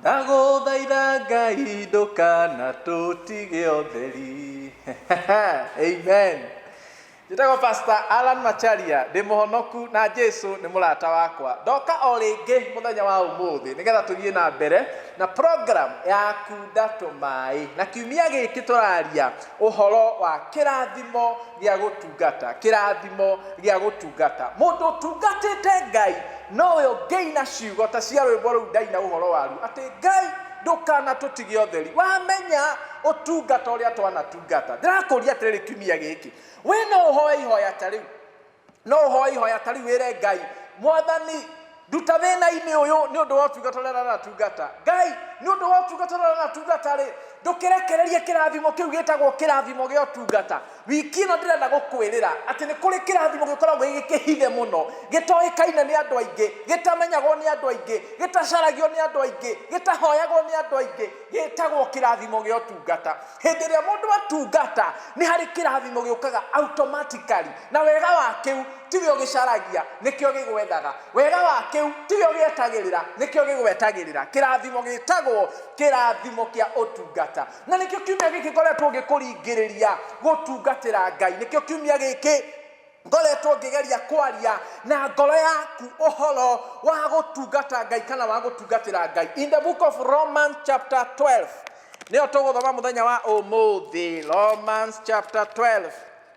Ndagũthaitha Ngai ndũkanatũtige ũtheri. Amen. Njĩtagwo Pastor Alan Macharia, ndĩ mũhonoku na Jesu nĩ mũrata wakwa. Ndoka o rĩngĩ mũthenya wa ũmũthĩ nĩgetha tũthiĩ na mbere na program ya kunda tũmaĩ. Na kiumia gĩkĩ tũraria ũhoro wa kĩrathimo gĩa gũtu. gũtungata kĩrathimo gĩa gũtungata mũndũ ũtungatĩte ngai nowe ũngĩina ciugo ta cia rwĩmbo rũu ndaina ũhoro waru atĩ ngai ndũkanatũtige ũtheri wamenya ũtungata ũrĩa twanatungata ndĩrakũria atĩrĩrĩ kiumia gĩkĩ wĩ no ũhoe ihoya ta rĩu no ũhoe ihoya ta rĩu wĩre ngai mwathani nduta thĩna-inĩ ũyũ nĩ ũndũ wa ũtungata ũrĩa aratungata ngai nĩ ũndũ wa ũtungata ũrĩa aratungata rĩ ndũkĩrekererie kĩrathimo kĩu gĩtagwo kĩrathimo gĩa ũtungata wiki ĩno ndĩrenda gũkwĩrĩra atĩ nĩ kũrĩ kĩrathimo gĩkoragwo gĩkĩhithe mũno gĩtoĩkaine nĩ andũ aingĩ gĩtamenyagwo nĩ andũ aingĩ gĩtacaragio nĩ andũ aingĩ gĩtahoyagwo nĩ andũ aingĩ gĩtagwo kĩrathimo gĩa ũtungata hĩndĩ ĩrĩa mũndũ atungata nĩ harĩ kĩrathimo gĩũkaga automatically na wega wa kĩu Tiwe ũgĩcaragia, nĩkĩo gĩgwethaga. Wega wa kĩu, tiwe ũgĩetagĩrĩra, nĩkĩo gĩgwetagĩrĩra. Kĩrathimo gĩtagwo kĩrathimo kĩa ũtungata. Na nĩkĩo kiumia gĩkĩ ngoretwo ngĩkũringĩrĩria gũtungatĩra Ngai. Nĩkĩo kiumia gĩkĩ ngoretwo ngĩgeria kwaria na ngoro yaku ũhoro wa gũtungata Ngai kana wa gũtungatĩra Ngai. In the book of Romans chapter 12 nĩyo tũgũthoma mũthenya wa ũmũthĩ. Romans chapter 12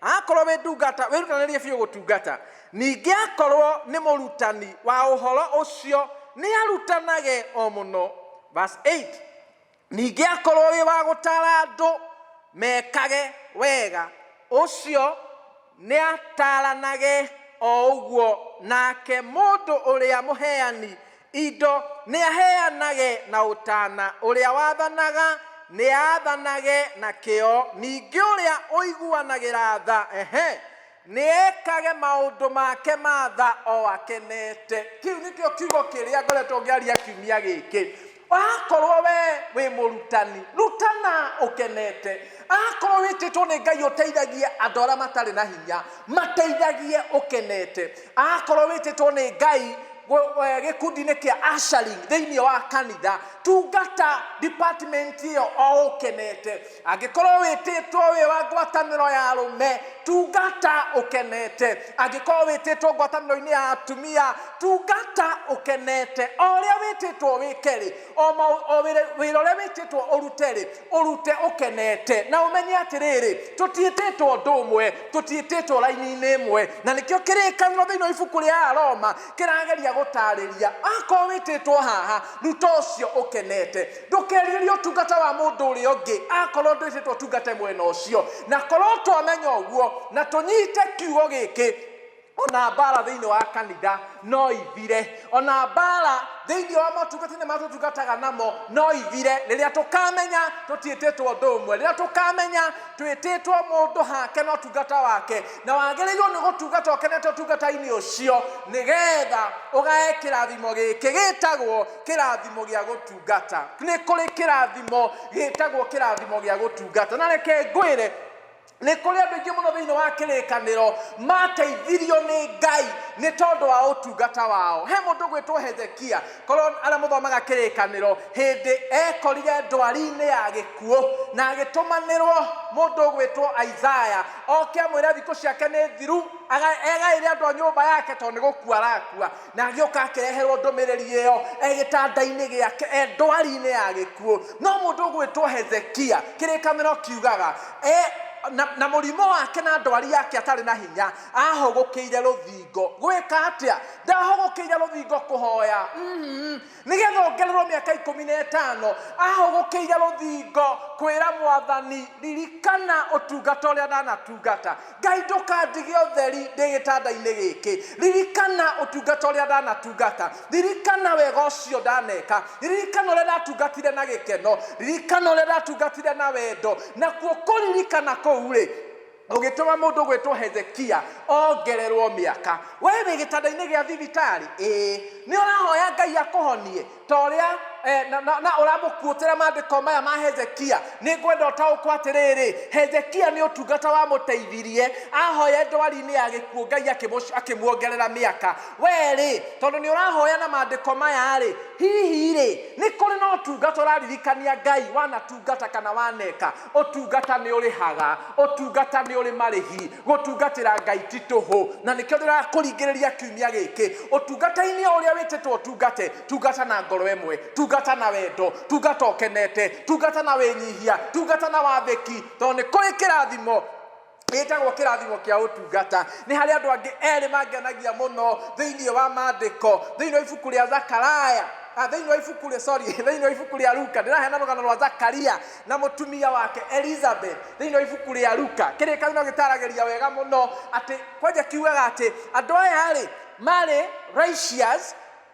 Akorwo wĩ ndungata, wĩrutanĩrie biũ gũtungata. Ningĩ akorwo nĩ mũrutani wa ũhoro ũcio, nĩ arutanage o mũno. Verse 8, Ningĩ akorwo wĩ wa gũtaara andũ mekage wega, ũcio nĩ ataaranage o ũguo, nake mũndũ ũrĩa mũheani Indo, nĩaheanage na ũtaana, ũrĩa wathanaga, nĩaathanage na kĩyo, ningĩ ũrĩa ũiguanagĩra tha, ehe, nĩekage maũndũ make ma tha o akenete. Kĩu nĩkĩo kiugo kĩrĩa ngoretwo ngĩaria kiumia gĩkĩ. Akorwo we wĩ mũrutani, rutana ũkenete. Akorwo wĩtĩtwo nĩ Ngai ũteithagie andũ arĩa matarĩ na hinya, mateithagie ũkenete. akorwo wĩtĩtwo nĩ ngai gũ- eh, gĩkundi-inĩ kĩa ashari thĩinĩ wa kanitha tungata department ĩyo o ũkenete angĩkorwo wĩtĩtwo wĩ wa ngwatanĩro ya arũme tungata ũkenete angĩkorwo wĩtĩtwo ngwatanĩro-inĩ ya atumia tungata ũkenete o ũrĩa wĩtĩtwo wĩke-rĩ o mau- o wĩra wĩra ũrĩa wĩtĩtwo ũrute-rĩ ũrute ũkenete na ũmenye atĩrĩrĩ tũtiĩtĩtwo ũndũ ũmwe tũtiĩtĩtwo raini-inĩ ĩmwe na nĩkĩo kĩrĩkanĩro thĩinĩ wa ibuku rĩa aroma kĩrageria gũtarĩria akorwo wĩtĩtwo haha ruta ũcio ũkenete ndũkerirĩrie ũtungata wa mũndũ ũrĩa ũngĩ akorwo ndwĩtĩtwo ũtungate mwena ũcio na korwo twamenya ũguo na tũnyite kiugo gĩkĩ ona mbara thĩinĩ wa kanitha no ithire ona mbara thĩinĩ wa motungata-inĩ marĩa tũtungataga namo no ithire rĩrĩa tũkamenya tũtiĩtĩtwo ũndũ ũmwe rĩrĩa tũkamenya twĩtĩtwo mũndũ hake na ũtungata wake na wagĩrĩirwo nĩ gũtungata ũkenete ũtungata-inĩ ũcio nĩgetha ũgae kĩrathimo gĩkĩ gĩtagwo kĩrathimo gĩa gũtungata nĩ kũrĩ kĩrathimo gĩtagwo kĩrathimo gĩa gũtungata na reke ngwĩre nĩ kũrĩ andũ aingĩ mũno thĩinĩ wa kĩrĩkanĩro mateithirio nĩ ngai nĩ tondũ wa ũtungata wao he mũndũ gwĩtwo hezekia korwo arĩa mũthomaga kĩrĩkanĩro hĩndĩ ekorire ndwari-inĩ ya gĩkuũ na agĩtũmanĩrwo mũndũ gwĩtwo isaya oke amwĩre thikũ ciake nĩ thiru agaĩre andũ a nyũmba yake tondũ nĩ gũkua arakua Na agĩũka akĩreherwo ndũmĩrĩri ĩyo e gĩtanda-inĩ gĩake, e ndwari-inĩ ya gĩkuũ. No mũndũ ũgwĩtwo Hezekia, kĩrĩkanĩro kiugaga, e na, na mũrimũ wake na ndwari yake atarĩ na hinya, aahũgũkĩire rũthingo. Gwĩka atĩa? Ndaahũgũkĩire rũthingo kũhoya. Mm. Nĩgetha ongererwo mĩaka ikũmi na ĩtano, ahũgũkĩire rũthingo kwĩra Mwathani, Ririkana ũtungata ũrĩa ndanatungata. Ngai ndũkandige ũtheri ndĩ gĩtanda-inĩ gĩkĩ. Ririkana ũtungata ũrĩa ndanatungata. Ririkana wega ũcio ndaneka. Ririkana ũrĩa ndatungatire na gĩkeno. Ririkana ũrĩa ndatungatire na wendo. Nakuo kũririkana kũu-rĩ, Ũgĩtũma mũndũ gwĩtwo Hezekia ongererũo mĩaka. Wee wĩ gĩtanda-inĩ gĩa thibitarĩ? Ĩĩ. Nĩ ũrahoya Ngai akũhonie ta ũrĩa, na, na, na ũramũkuũtĩra maandĩko maya ma Hezekia? Nĩ ngwenda ũtaũkwo atĩrĩrĩ, Hezekia nĩ ũtungata wamũteithirie ahoye ndwari-inĩ ya gĩkuũ Ngai akĩmũ, akĩmuongerera mĩaka. Wee-rĩ, tondũ nĩ ũrahoya na maandĩko maya-rĩ, hihi-rĩ, nĩ kũrĩ na ũtungata ũraririkania Ngai wanatungata kana waneka? Ũtungata nĩ ũrĩhaga. Ũtungata nĩ ũrĩ marĩhi. Gũtungatĩra Ngai ti tũhũ. Na nĩkĩo ndĩrakũringĩrĩria kiumia gĩkĩ. Ũtungata-inĩ o ũrĩa wĩtĩtwo ũtungate, tungata na ngoro ĩmwe. Tungata na wendo. Tungata ũkenete. Tungata na wĩnyihia. Tungata na wathĩki. Tondũ nĩ kũrĩ kĩrathimo. ĩtagwo kĩrathimo kĩa ũtungata nĩ harĩ andũ angĩ erĩ mangenagia mũno thĩinĩ wa maandĩko thĩinĩ wa ibuku rĩa zakaraya ah, thĩinĩ wa ibuku rĩa sorry thĩinĩ wa ibuku rĩa luka ndĩraheana rũgano rwa zakaria na mũtumia wake elizabeth thĩinĩ wa ibuku rĩa luka kĩrĩ kau no gĩtaragĩria wega mũno atĩ kwanja kiugaga atĩ andũ aya rĩ marĩ righteous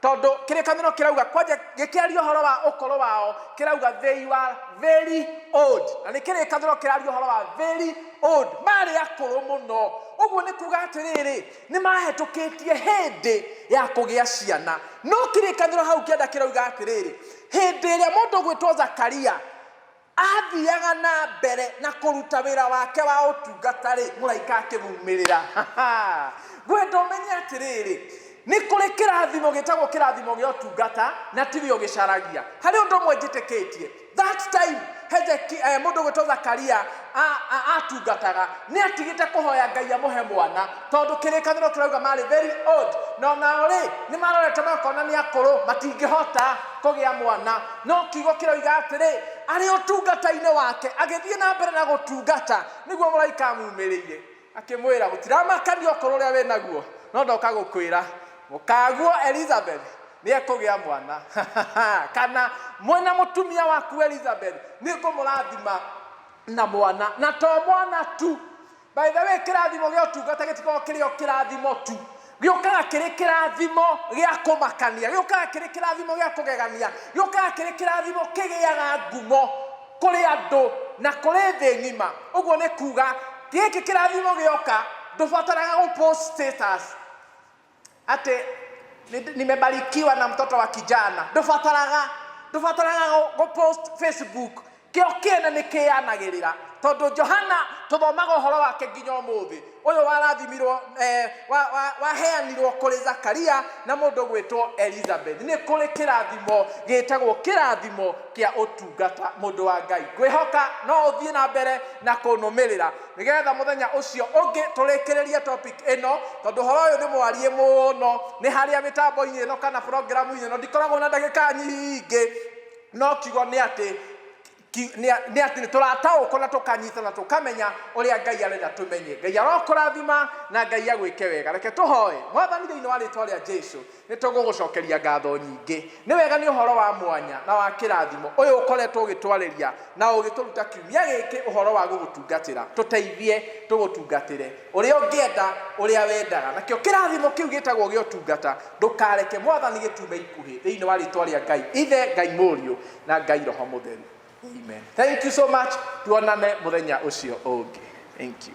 Tondũ kĩrĩkanĩro kĩrauga, kwanja gĩkĩaria ũhoro wa ũkũrũ wao, kĩrauga they were very old. Na nĩ kĩrĩkanĩro kĩraria ũhoro wa very old, maarĩ akũrũ mũno. Ũguo nĩ kuuga atĩrĩrĩ, nĩ mahetũkĩtie hĩndĩ ya kũgĩa ciana. No kĩrĩkanĩro hau kĩanda kĩrauga atĩrĩrĩ, hĩndĩ ĩrĩa mũndũ ũgwĩtwo Zakaria, Aathiaga na mbere na kũruta wĩra wake wa ũtungata-rĩ, mũraika akĩmuumĩrĩra. Ngwenda ũmenye atĩrĩrĩ, nĩ kũrĩ kĩrathimo gĩtagwo kĩrathimo gĩa ũtungata, na ti we ũgĩcaragia. Harĩ ũndũ ũmwe njĩtĩkĩtie, that time Hezekia, mũndũ ũgwĩtwo Zakaria atungataga, nĩ atigĩte kũhoya Ngai amũhe mwana. Tondũ kĩrĩkanĩro kĩrauga marĩ very old, na o nao-rĩ, nĩmarorete makona nĩ akũrũ, matingĩhota kũgĩa mwana. No kiugo kĩroiga atĩrĩ, Arĩ ũtungata-inĩ wake, agĩthiĩ na mbere na gũtungata, nĩguo mũraika amuumĩrĩire, akĩmwĩra, Gũtiramakania ũkũrũ ũrĩa wĩ naguo, no ndoka gũkwĩra, mũkaguo Elizabethi nĩekũgĩa mwana. Kana, Mwĩ na mũtumia waku Elizabethi, nĩngũmũrathima na mwana, na to mwana tu, By the way, kĩrathimo gĩa ũtungata gĩtikoragwo kĩrĩ o kĩrathimo tu gĩũkaga kĩrĩ kĩrathimo gĩa kũmakania gĩũkaga kĩrĩ kĩrathimo gĩa kũgegania gĩũkaga kĩrĩ kĩrathimo kĩgĩaga ngumo kũrĩ andũ na kũrĩ thĩ ng'ima ũguo nĩ kuga gĩkĩ kĩrathimo gĩoka ndũbataraga gũ post status atĩ nĩ- nimebarikiwa na mtoto wa kijana ndũbataraga ndũbataraga gũ- gũpost facebook kĩo kĩene nĩ kĩyanagĩrĩra tondũ johana tũthomaga ũhoro wake nginya ũmũthĩ ũyũ warathimirwo eh, wa- wa- waheanirwo kũrĩ zakaria na mũndũ gwĩtwo elizabeth nĩ kũrĩ kĩrathimo gĩtagwo kĩrathimo kĩa ũtungata mũndũ wa ngai ngwĩhoka no ũthiĩ na mbere na kũnũmĩrĩra Nĩgetha mũthenya ũcio ũngĩ tũrĩkĩrĩrie topic ĩno, tondũ ũhoro ũyũ nĩ mwarie mũno, nĩ harĩa mĩtambo-inĩ ĩno kana programu-inĩ ĩno ndikoragwo na ndagĩka nyingĩ, no kiugo nĩ atĩ nĩ atĩ nĩ tũrataũkwo na tũkanyita na tũkamenya ũrĩa Ngai arenda tũmenye. Ngai arokũrathima na Ngai agwĩke wega. Reke tũhoe. Mwathani thĩinĩ wa rĩtwa rĩa Jesu, Nĩ tũgũgũcokeria ngatho nyingĩ. Nĩ wega nĩ ũhoro wa mwanya na wa kĩrathimo ũyũ ũkoretwo ũgĩtwarĩria na ũgĩtũruta kiumia gĩkĩ ũhoro wa gũgũtungatĩra. Tũteithie tũgũtungatĩre ũrĩa ũngĩenda, ũrĩa wendaga. Nakĩo kĩrathimo kĩu gĩtagwo gĩa ũtungata, ndũkareke Mwathani gĩtume ikuhĩ. Thĩinĩ wa rĩĩtwa rĩa Ngai Ithe, Ngai Mũriũ, na Ngai Roho Mũtheru. Amen. Thank you so much. Tuonane mũthenya ũcio ũngĩ. Thank you.